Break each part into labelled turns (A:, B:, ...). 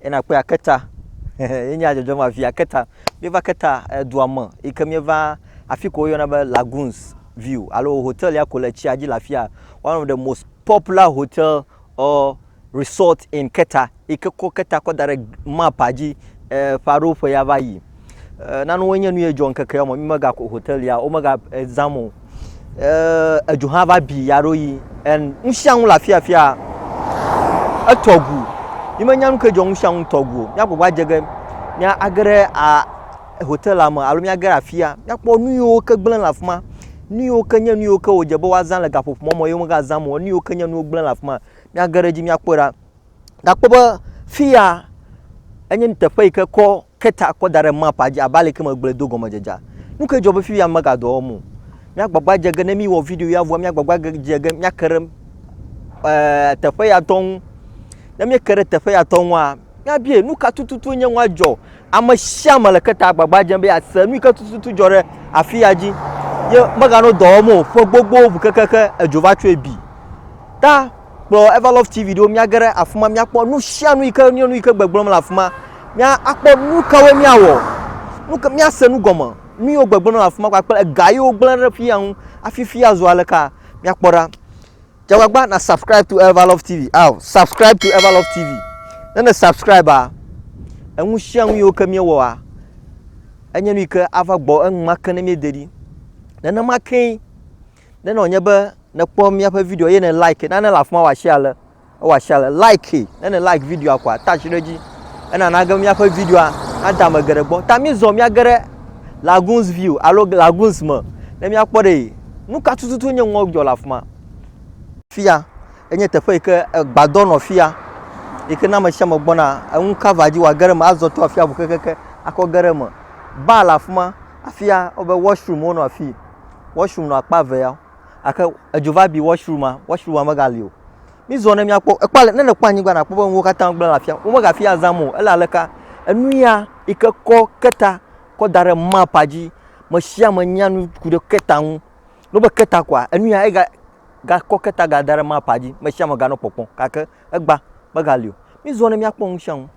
A: Ye nakpɔe aketa ye nya dzɔdzɔm afi aketa. Míeva aketa edua me yi ke míeva afi ke woyɔna be Lagoons View alo hotel ya ko le tsia dzi le afia. One of the most popular hotel or resort in Keta yi ke kɔ keta kɔ da ɖe map dzi e ƒe aɖewo ƒe ya va yi. E, nanewo nye nu ye dzɔ ŋkeke ya me, mi mega ko hotelia, wo mega exam o. E, edzo hã va bi ya ɖo yi. En, nu sia nu le afi afia. Etɔ gu. Mi menya nu ke dzɔ nu sia nu tɔ gu o. Mia gbogbo adze ge, mia age ɖe a hotelia me alo mia ge ɖe afia. Mia kpɔ nu yiwo ke gblẽ le afima. Nu yiwo ke nye nu yiwo ke wodze be woazã le gaƒoƒo mɔ me ye wo mega zã mo. Nu yiwo ke nye nuwo gblẽ le afima. Mia ge ɖe edzi mia kpɔe ɖa. nakpɔ be fiya enye nuteƒe yi ke kɔ keta kɔ da ɖe mapaa dzi abe aleke megblɔe do gɔmedzedzea. Nu kae dzɔ be fiya mega dɔ wɔm o? Míagbagba dze ge ne míwɔ video ya vɔa míagbagba dze ge míake ɖe ɛɛ teƒe ya tɔ ŋu. Ne míeke ɖe teƒe ya tɔ ŋua, míabie nu ka tututu nye nua dzɔ. Ame sia ame le keta agbagba dzem be yease nu yi ke tututu dzɔ ɖe afiya dzi ye meganɔ dɔ wɔm o. Ƒe gbogbowo ŋu kekeake edzo va tsɔe bi. Ta Kplɔ Everlove TV ɖo míage ɖe afi ma míakpɔ nu sia nu yi ke nye nu yi ke gbegblɔm le afi ma. Míakpɔ nu kawoe míawɔ, nu ka míase nu gɔme, nu yiwo gbegblɔm le afi ma kpakple ega yiwo gblẽ ɖe fi ya ŋu hafi fi azu aleka. Míakpɔ ɖa. Dze agbagba na subscribe to Everlove TV. Ao, subscribe to Everlove TV. Ne ne subscribea, enu sia nu yiwo ke míewɔa, enye nu yi ke ava gbɔ enumake ne míede ɖi. Nenema kee Ne nɔ nye be ne kpɔ mía ƒe video ye ne like na ne le afima wa share le ewa share le like ne ne like video akwa touch ɖe dzi ena na ge mía ƒe video a na da me geɖe gbɔ ta mi zɔ mía ge ɖe lagoons view alo lagoons me ne mía kpɔ ɖe nu ka tututu nye ŋɔ dzɔ le afima fia enye teƒe yi ke gbadɔ nɔ fia yi ke na me share me gbɔna enu cover dzi wa ge ɖe me azɔ to afia bu kekeke akɔ ge ɖe me ba le afima afia obe washroom wo nɔ afii wɔshrum nɔ akpa eve ya gake edzo va bi wɔshruma wɔshruma megali o. Mizɔ ne míakpɔ ekpɔ ne nèkpɔ anyigba nakpɔ be nuwo katã gblẽ le afia womegafi azam o ele aleka enu ya yi ke kɔ keta kɔ da ɖe mapaa dzi mesiame nya nu ku ɖe keta ŋu ne wogbe keta koa enu ya ega gakɔ keta ga da ɖe mapaa dzi mesiame ganɔ kpɔkpɔm gake egba megali o. Mizɔ ne míakpɔ nu sia nu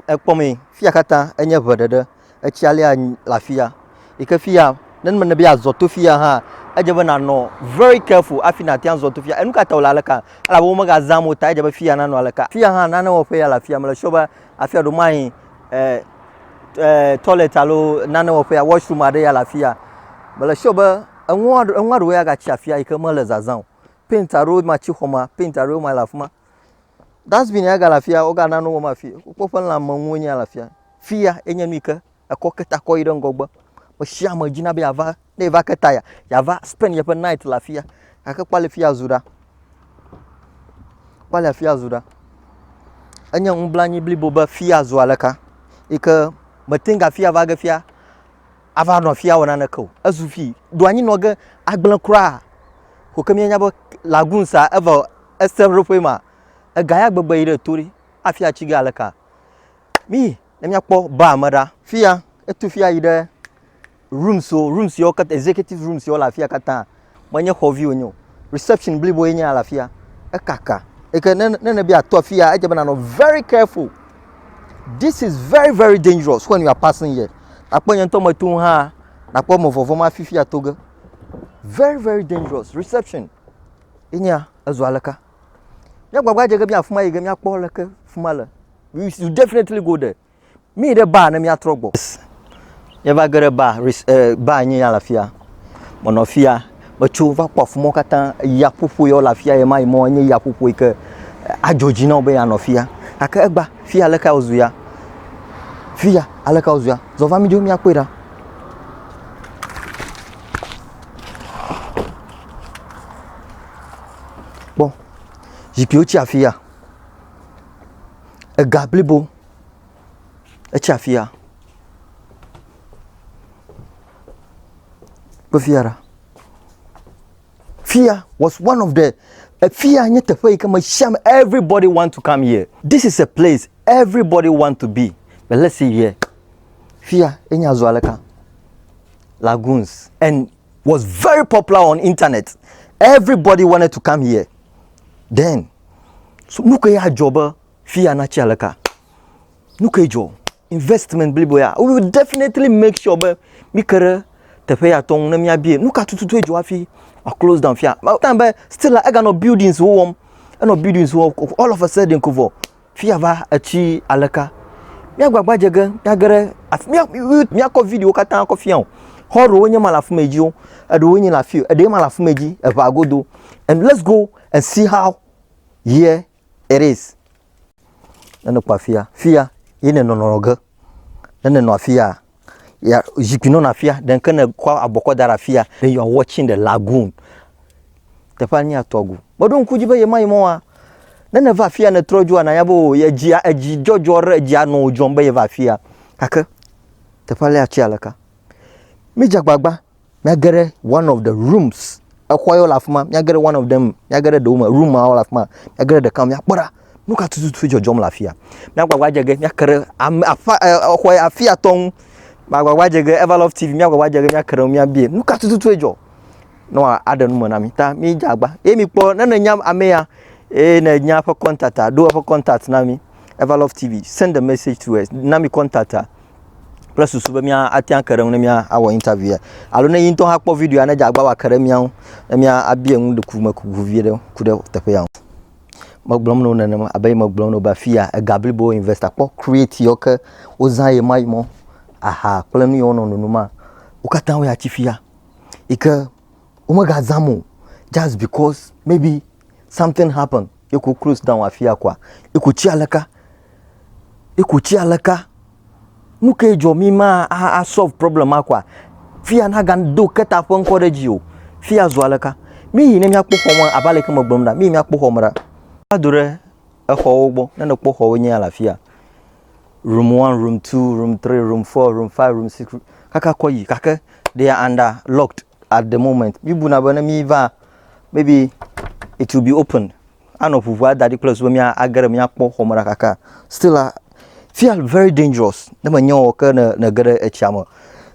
A: ekpɔ mee fiya katã enye ŋe ɖeɖe. Etsia lea le afia yi ke fia ne mele be yeazɔ to fia hã, edze be nànɔ very careful hafi nàte ŋu azɔ to fia. Enu ka ta wòle aleka? Elabe womegazã mɔ o tae edze be fia nanɔ aleka. Fia hã, nane wɔƒe ya le afia. Mele sure be afia ɖewo mayi eh, eh, toilet alo nane wɔƒe ya, washroom aɖe ya le afia. Mele sure be enua, enua ɖewo ya gatsi afia yi ke mele zazã o. Paint aɖewo ma tsi xɔmea, paint aɖewo ma le afi ma. Dustbin ya ga le afia woga nane wɔm afi. Wokpɔ eƒe lãme nuwo nye ya le afia. Fia enye nu yi ke ekɔ ke ta kɔ yi ɖe ŋgɔgbe. Me sia me dzina be yeava ne yeva ke ta ya yeava spend yeƒe night le afia. Gake kpɔ ale fi ya zu ɖa. Kpɔ ale afi ya zu ɖa. Enye nublanui blibo be fi ya zu aleka yi ke mete ŋu afi ya va ge fia ava nɔ fi ya wɔ naneke o. Ezu fi do anyi nɔ ge agble kura. Ko ke míenya be lagoon sa eva Eseɖoƒe ma, ega ya gbegbe yi ɖe to ɖi afi ya tsige aleka. Míyi ne míakpɔ baa me ɖa. Fiya, etu fiya yi ɖe rooms wo, rooms yawo katã, executive rooms yawo le afi ya katã. Menye xɔ vi wonye o. Reception blibo ye nye le afi ya. Ekaka. Eke ne ne ne be yeato afi ya, edze be nanɔ very careful. This is very very dangerous when you are passing here. Akpɔ nye ŋutɔ meto ŋu hã nakpɔ eme vɔvɔ̃m hafi fi ato ge. Very very dangerous. Reception. ye nye ya ezu aleka? Mía gbagba dze ge be afi ma yi ge míakpɔ leke afi ma le. We should definitely go there. Mí ɖe baa ne míatrɔ gbɔ. Míeva ge ɖe baa, eh, baa nye ya le afia. Menɔ afia, metso va kpɔ afi ma katã. Ya ƒoƒo ya le afia ye ma yi mɔ nye ya ƒoƒo yi ke adzɔ dzi na wo be ya nɔ afia. Gake egba, fi ya aleka wozu ya? Fi ya aleka wozu ya? Zɔ va mí dzo míakpɔe ɖa. Kpɔ, zikpiwo tse afi ya. Ega blibo etse afi ya. Kpɔ fi ya ɖa. Fi ya was one of the, fi ya nye teƒe yi ke me sia me everybody want to come here. This is a place everybody want to be but let's see here. Fi ya enye azɔ aleka. lagoons and was very popular on internet everybody wanted to come here then so nu kae adzɔ be fi ya natsi aleka nu kae dzɔ investment blibo ya we will definitely make sure be mi ke ɖe teƒe ya tɔ ŋu ne miabie nu ka tututu edzɔ hafi a close down fia time be still la eganɔ buildings wo wɔm enɔ buildings wo wɔm all of a sudden ko vɔ Fiya va etsi aleka. Mía gbagba dze ge mía ge ɖe afi mía mía kɔ viɖiwo katã kɔ fia o. Xɔ ɖewo nye ma le afi ma dzi o. Eɖewo nye le afi o. Eɖe ma le afi ma dzi eŋa godo. And let's go and see how here it is. Ne nɔ kpɔ afia fiya ye ne nɔ nɔ ge. Ne nɔ afi ya. ya zikpui nɔna afia ɖe ke ne kɔ abɔ kɔ da ɖe afia then you are watching the lagoon teƒea nye atɔgo meɖo ŋku dzi be yema yi mɔa ne ne va afia ne trɔ dzua na ya be o ye dzi edzi dzɔdzɔ ɖe edzi anɔ o dzɔm be ye va afia kake teƒe alea tse aleka mi dze agbagba Míage ɖe one of the rooms. Exɔ yewo le afi ma. Míage ɖe one of them. Míage ɖe ɖewo me. Room mawo le afi ma. Míage ɖe ɖeka me. Míakpɔ ɖa. Nu ka tututu dzɔdzɔm le afi ya? Míagbagba adze ge míake ɖe ame aƒe exɔ ya afi ya tɔ ŋu. Míagbagba adze ge Everlove TV míagbagba adze ge míake ɖe ŋu míabie nu ka tututu dzɔ ne wòaɖe nu me na mi. Ta mídze agba eye mikpɔ ne nènya ame ya eye nènya eƒe contact a, ɖo eƒe contact na mi. Everlove TV, send a message to us. Na mi contact a. kple susu be mía ate ŋu ake ɖe eŋu ne míawɔ interview ya alo ne yi ŋutɔ hã kpɔ video ya ne dze agbagba be yeake ɖe mía ŋu ne míabia nu ɖe ku me ku ŋu viɖe ku ɖe teƒe ya ŋu. Megblɔm na wo nenema abe yi megblɔm na wo be afi ya ega blibo investor kpɔ create yewo ke wozã ye ma yi mɔ aha kple nu yi wonɔ nunu ma wo katã wo ya tsi fi ya yi ke womegazãm o just because maybe something happen ye wò close down afi ya kɔa, ye kò tsi aleka, ye kò tsi aleka. Nu kae dzɔ mí ma a solve problem ma kɔa? Fia nagado Keta ƒe ŋkɔ ɖe edzi o. Fia zu aleka? Mí yi ne mía kpɔ xɔ me abe ale ke me gblɔm ɖa, mí yi mía kpɔ xɔ me ɖa. Va do ɖe exɔwo gbɔ, ne nèkpɔ xɔwo nyea le afi ya, room one, room two, room three, room four, room five, room six, kaka kɔ yi gake they are under locked. at the moment míbuna be ne míva maybe it will be open anɔ ʋuʋua da ɖi kple zu be míage ɖe míakpɔ xɔme ɖa kaka still la fia very dangerous ne menye o ke ne nege ɖe etsia me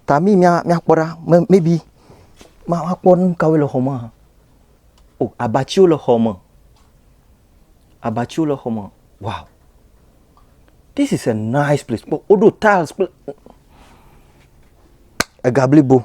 A: ta mi mía míakpɔ ɖa me- maybe ma- makpɔ nu kawoe le xɔ me hã o abatiwo le xɔ me abatiwo le xɔ me wow this is a nice place kpɔ woɖo tiles kple ega blibo.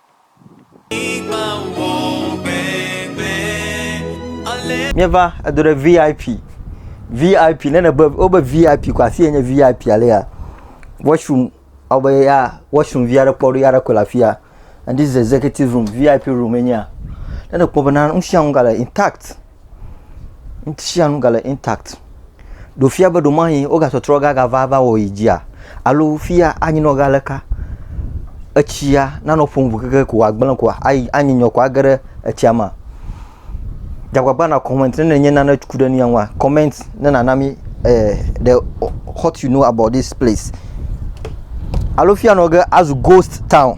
A: Míeva edo ɖe VIP. VIP ne nèbe wobe VIP ko afi enye VIP alea washroom ewɔ be ya washroom vi aɖe kpɔ ɖo ya aɖe koe le afi ya. And this is executive room VIP room enyea. Ne nèkpɔ bena nu sia nu gale intact. Nusianu gale intact. Ɖewo fia be ɖewomayi wogatrɔtrɔ gagava va wɔ yi dzia alo fia anyi nɔ ga leka. Etsia nanɔ ƒom ŋu keke ko wòagblẽ ko ayi anyi nyɔ ko age ɖe etsia mea. Dzagbagba na comment ne nenye nane ku ɖe nuya ŋua comment ne nana mi eh, the what you know about this place. Alo fia nɔ ge azu ghost town.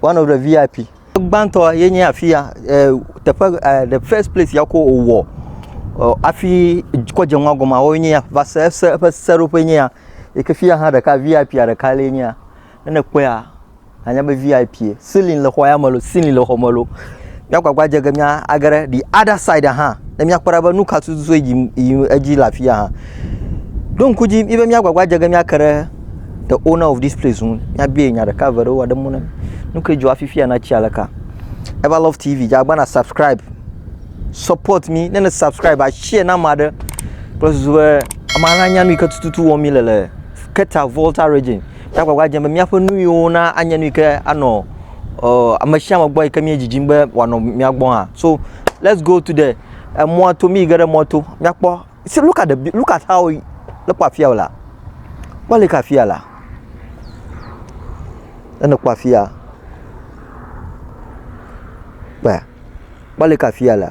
A: one of the vip gbãtɔ ye nye afi ya eh, teƒe eh, the first place ya ko wòwɔ eh, afi kɔ dze nua gɔma woe nye ya va se se eƒe seɖoƒe nye ya yi ke fi ya hã ɖeka vip ya ɖeka lee nye ya ne nekpɔea anya be vip ye ceiling le xɔ ya me lo ceiling le xɔ me lo Míagbagba dze ge mía age ɖe the other side hã ne míakpɔ ɖa be nu ka tututu yi yim edzi le afi ya hã. Ɖo ŋku dzi mí be míagbagba dze ge míake ɖe the owner of this place ŋu míabia nya ɖeka eve ɖewo aɖe mɔ ne nu ke dzɔ hafi fi ya natsi aleka. Ever Love TV dze agbana subscribe support mi ne ne subscribe a share na ame aɖe kple susu be ame aɖe nanya nu yi ke tututu wɔm mi le le Keta Volta region. Nya agbagba dzem be míaƒe nuyiwo na anye nu yi ke anɔ ɔ ame sia ame gbɔ yi ke míedzidzim be wòanɔ mía gbɔ hã. So let's go to the emɔa to míyi ge ɖe mɔa to míakpɔ. See look at the look at how ne kpɔ afia la. Kpɔ le ke afia la. Ne kpɔ afia. Kpɔe. Kpɔ le ke afia la.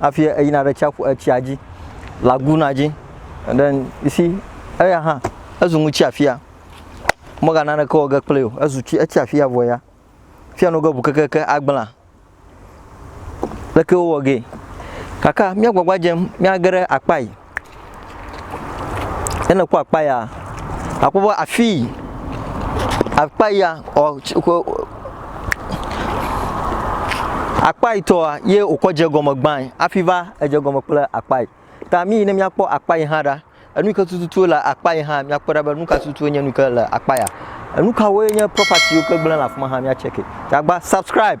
A: hafi eyina ɖe tsiaƒu etsia dzi laguna dzi and then you see eya hã ezu nu tsiafia mega naneke wɔ ge kple o ezu tsi etsiafia vɔ ya fia no ge ʋu kekeke agbla leke wowɔ gee kaka mía gbagba dzem míage ɖe akpa yi Ne nèkpɔ akpa ya, àkpɔ be afii, akpa ya ɔ tsi ƒe ɔ akpa yi tɔa ye wòkɔ dze egɔme gbãe hafi va edze egɔme kple akpa yi. Ta mí yi ne míakpɔ akpa yi hã ɖa. Enu yi ke tututu le akpa yi hã míakpɔe ɖa be nu ka tutu nye nu yi ke le akpa ya. Enu kawoe nye propatiwo ke gblẽ le afi ma hã míatsɛkɛ. Agba subscribe.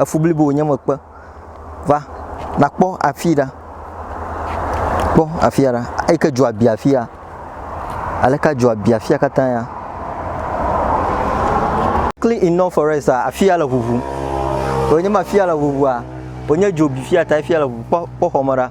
A: efu blibo wònye mekpe. Va, nàkpɔ afii ɖa. Kpɔ afia ɖa. Eyi ke dzoa bia afia. Aleke dzoa bia afia katã ya? Clean enough for us a, afia le ʋuʋum. Wònye be afia le ʋuʋua, wònye dzo bi fia tae fia le ʋuʋum. Kpɔ, kpɔ xɔme ɖa.